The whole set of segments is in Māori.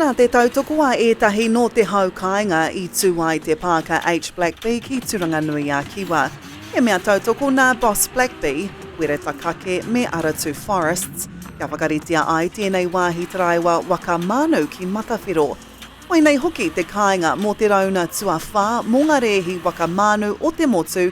Nā te tautoko a ētahi nō te hau kāinga i tū ai te pāka H. Blackbee ki Turanganui-a-Kiwa. He mea tautoko nā Boss Blackbee, Wereta Kake me Aratu Forests, kia whakaritea ai tēnei wāhi taraiwa waka mānu ki Matawhero. Koinei hoki te kāinga mō te rauna tuawhā mō ngā rēhi waka mānu o te motu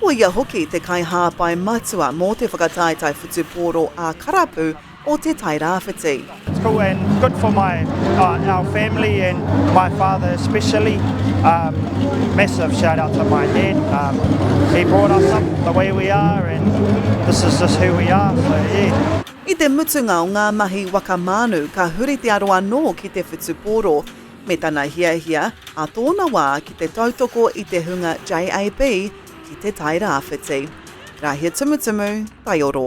Ko ia hoki te kaihāpai matua mō te whakataetae whutupōro ā-karapu o Te Tai Rāwhiti. It's cool and good for my uh, our family and my father especially. Um, massive shout out to my dad. Um, he brought us up the way we are and this is just who we are. So yeah. I te mutunga o ngā mahi waka mānu ka huri te aro anō ki te whutupōro. me tana hiahia ā tōna wā ki te tautoko i te hunga JAB ki Te Tai Rāwhiti. Rāhia Tumutumu, Taioro.